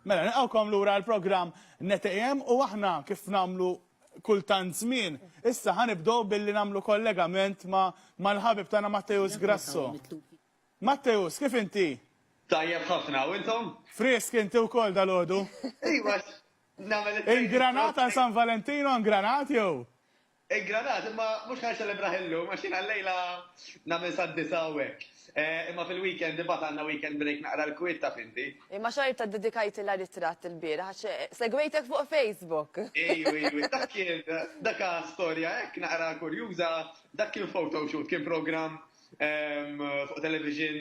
Mela, nilqawkom lura l-programm NetAM u aħna kif namlu kultant żmien. Issa ħanibdow billi namlu kollegament ma mal-ħabib tagħna Matteus Grasso. Matteus, kif inti? Tajjeb ħafna, u intom? Frisk inti wkoll dal-għodu. Iva, nagħmel Ingranat għal San Valentino, ingranat jew? Il-Granat, imma mhux ħa niċċelebrah illum għax jiena llejla nagħmel sad-disgħa u hekk. Imma fil-weekend imbagħad għandna weekend break naqra l-kwiet taf inti. Imma xorta ddedikajtilha ritratt ilbieraħ għax segwejtek fuq Facebook. Iju, iju, dak kien, dak ha storja hekk naqra kurjuża, dak kien photoshoot, kien programm fuq television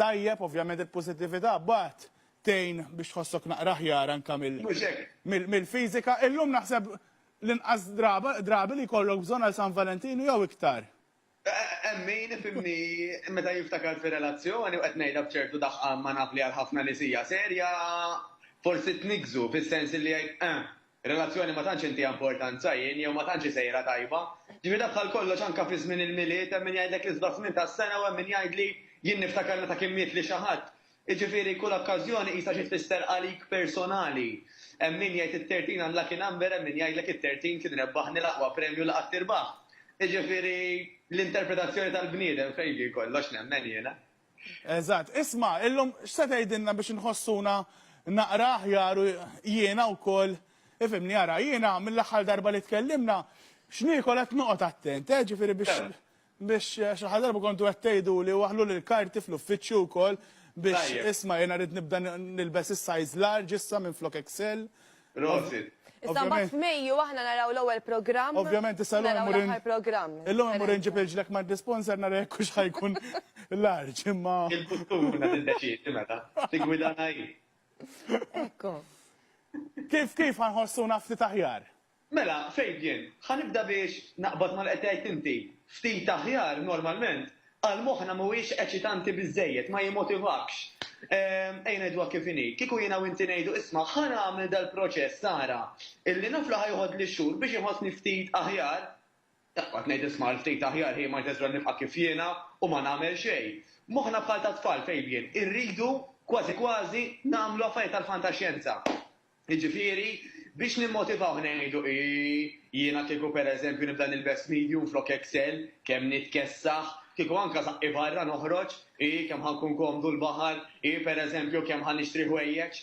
tajjeb, ovvjament il-pożittività mbagħad tgħin biex tħossok naqra aħjar anke mill-fiżika. Illum naħseb l-inqas drabi li jkollok bżonn għal San Valentinu jew iktar. Hemm min ifhimni meta jiftakar fi relazzjoni u qed ngħidha b'ċertu daħqan ma naf li għal ħafna nies hija serja, forsi tniggżu fis-sens li jgħid, 'Eh, Relazzjoni ma tantx intiha importanza jien jew ma tantx hi sejra tajba. Ġifieri dak bħal kollox anke fi żmien il-Milied hemm min jgħidlek l-isbaħ żmien tas-sena u hemm min jgħidli jien niftakar meta kien mietli xi ħadd. Jiġifieri kull okkażjoni qisha xi tfisser għalik personali. Hemm min jgħid it-tertin unlucky number hemm min jgħidlek it-tertin kien rebbaħni l-aqwa premju li qatt tirbaħ. Jiġifieri l-interpretazzjoni tal-bniedem fejn ġie kollox nemmen jiena. Eżatt. Isma', illum x'se tgħidilna biex inħossuna naqra aħjar u jiena wkoll, ifhimni, ara, jiena mill-aħħar darba li tkellimna, x'niekol qed noqgħod attent, eh, ġifieri biex, biex, għax l-aħħar darba kontu qed tgħiduli waħħluli l-karti fl-uffiċċju wkoll biex, isma', jiena rrid nibda nilbes is-size large issa minflok XL, Prosit. Issa mbagħad f'Mejju aħna naraw l-ewwel programm. Ovvjament issa llum imur l-aħħar programm. Illum imur inġib irġlek ma' disponser nara jekk hux ħa jkun larġ imma. Il-futur tiddeċiedi meta tiggwidana hi. Ekku. Kif kif ħa nħossuna ftit aħjar? Mela, Fabian, ħa nibda biex naqbad ma' li qed tgħid inti. Ftit aħjar normalment Għal moħħna mhuwiex eċitanti biżżejjed, ma jimmotivakx. Ejja ngħiduha kif inhi, kieku jiena u inti ngħidu, isma' ħa nagħmel dal-proċess ara, illi naf li ħa joħodli xhur biex inħossni ftit aħjar, taqbad ngħid isma' għal ftit aħjar hi might as well nibqa' kif jiena u ma nagħmel xejn. Moħħna bħal tat-tfal, Fabian, irridu kważi kważi nagħmlu affarijiet tal-fantaxjenza. Jiġifieri, biex nimmotivawh ngħidu, Ii, jiena kieku pereżempju nibda nilbes medium flok excel, kemm nitkessaħ, kieku anke żaqqi barra noħroġ, Ii, kemm ħa nkun komdu l-baħar, Ii, pereżempju, kemm ħa nixtri ħwejjeġ.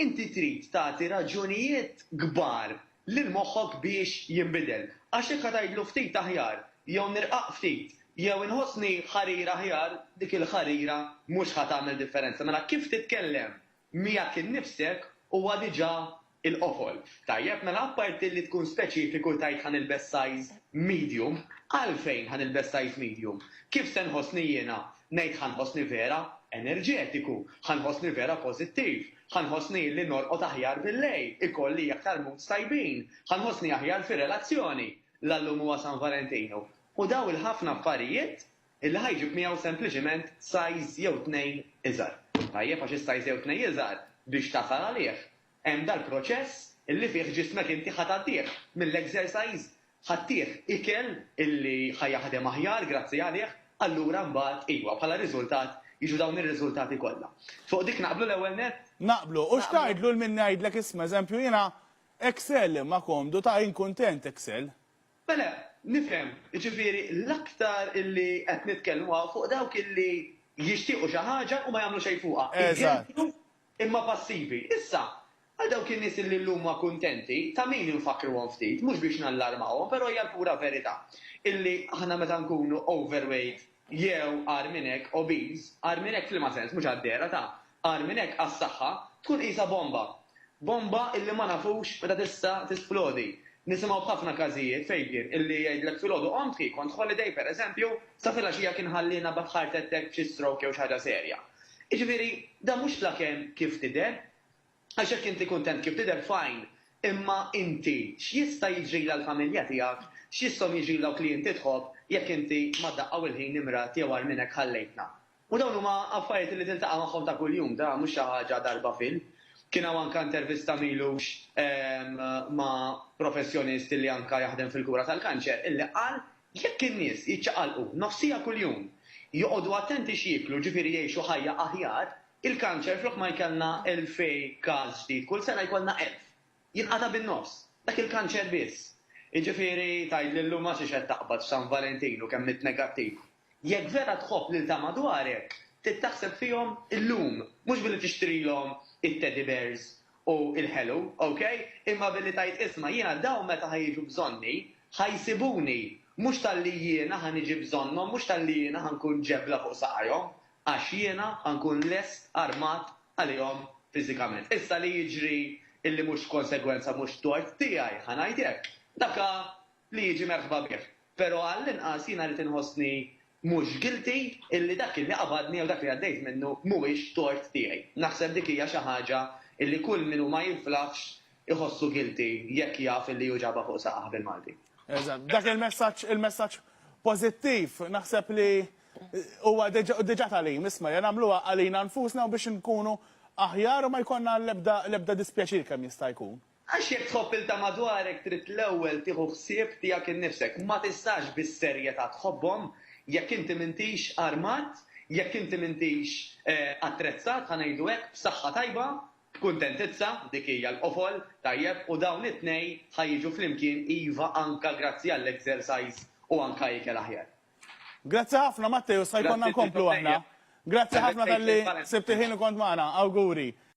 Inti trid tagħti raġunijiet kbar lil moħħok biex jinbidel. Għax jekk ħa tgħidlu ftit aħjar, jew nirqaq ftit, jew inħossni ħarir aħjar, dik il-ħarira mhux ħa tagħmel differenza. Mela kif titkellem Miegħek innifsek huwa diġà il-qofol. Tajjeb, mela apparti li tkun speċifiku tgħid ħa nilbes size medium, għalfejn ħa nilbes size medium? Kif se nħossni jiena? Ngħid ħa nħossni vera enerġetiku, ħa nħossni vera pożittiv, ħa nħossni illi norqod aħjar billejl, ikolli aktar moods tajbin, ħa nħossni aħjar fir-relazzjoni. La llum huwa San Valentinu. U dawn il-ħafna affarijiet illi ħa jġib miegħu sempliċiment size jew tnejn iżgħar. Tajjeb għax is-size jew tnejn iżgħar biex tasal għalih hemm dal-proċess illi fih ġismek inti ħa tgħaddih mill-exercise, ħa ttih ikel illi ħa jaħdem aħjar grazzi għalih, allura mbagħad iwa, bħala riżultat jiġu dawn ir-riżultati kollha. Fuq dik naqblu l-ewwel nett? Naqblu. U x'tgħidlu lil min ngħidlek isma' eżempju jiena Excel imma komdu ta' jien kuntent Excel. Mela, nifhem, jiġifieri l-aktar illi qed nitkellmu hawn fuq dawk illi jixtiequ xi ħaġa u ma jagħmlu xejn fuqha, igeddu imma passivi. Issa, għal dawk in-nies illi llum huma kuntenti, ta' min infakkruhom ftit, mhux biex nallarmawhom, però hija l-pura verità illi aħna meta nkunu overweight, jew, agħar minn hekk, obeż, agħar minn hekk f'liema sens, mhux għad-dehra ta', agħar minn hekk għas-saħħa, tkun qisha bomba. Bomba illi ma nafux meta tista' tisplodi. Nisimgħu b'ħafna każijiet fejn kien illi jgħidlek filgħodu qomt, hi kont holiday, pereżempju, sa filgħaxija kien ħalliena b' heart attack, b' xi stroke jew xi ħaġa serja. Jiġifieri, dan mhux fl-aken kif tidher. Għax jekk inti kuntent kif tidher fine, imma inti x'jista' jiġrila l-familja tiegħek, x'jisthom jiġril dawk li inti tħobb jekk inti ma' daqqa u l-ħin imradt jew agħar minn hekk ħallejtna? U dawn huma affarijiet li tiltaqa' magħhom ta' kuljum, da mhux xi ħaġa darba fil. Kien hawn anke intervista m'ilux ma' professjonist illi anke jaħdem fil-kura tal-kanċer illi qal jekk in-nies jiċċaqalqu nofsija kuljum, joqogħdu attenti x'jieklu ġifieri jgħixu ħajja aħjar, Il-kanċer flok ma jkollna 2,000 każ ġdid kull sena jkollna 1,000. Jinqata' bin-nofs. Dak il-kanċer biss. Jiġifieri tgħid li llum ma tridx qed taqbad f'San Valentin u kemm int negattiv. Jekk vera tħobb lil ta' madwarek, trid taħseb fihom illum, mhux billi tixtrilhom it-teddy bears u l-ħelu, ok? Imma billi tgħid isma' jiena dawn meta ħa jiġu bżonni, ħa jsibuni, mhux talli jiena ħa niġi bżonnhom, mhux talli jiena ħa nkun ġebla fuq saqajhom, għax jiena nkun lest armat għalihom fiżikament. Issa li jiġri illi mhux konsegwenza mhux tort tiegħi, ħa ngħid hekk, dak hu li jiġi merħba bih. Però għall-inqas jiena rrid inħossni mhux guilty illi dak illi qabadni jew dak li għaddejt minnu mhuwiex tort tiegħi. Naħseb dik hija xi ħaġa illi kull min hu ma jinflaħx iħossu guilty jekk jaf illi hu ġabha fuq saqajh bil-Malti. Eżatt. Dak il-messaġġ, il-messaġġ pożittiv, naħseb li Huwa diġà tagħlim, isma', ja nagħmluha għalina nfusna u biex inkunu aħjar u ma jkollna l-ebda dispjaċir kemm jista' jkun. Għax jekk tħobb lil ta' madwarek trid l-ewwel tieħu ħsieb tiegħek innifsek. Ma tistax bis-serjetà tħobbhom jekk inti m'intix armat, jekk inti m'intix attrezzat, ħa ngħidu hekk, b'saħħa tajba, b'kuntentizza, dik hija l-qofol, tajjeb, u dawn it-tnejn ħa jiġu flimkien, iva, anke grazzi għall-exercise u anke ikel aħjar. Grazzi ħafna Matteo, sa jkollna nkomplu aħna. Grazzi ħafna talli sibt il-ħin u kont magħna. Awguri.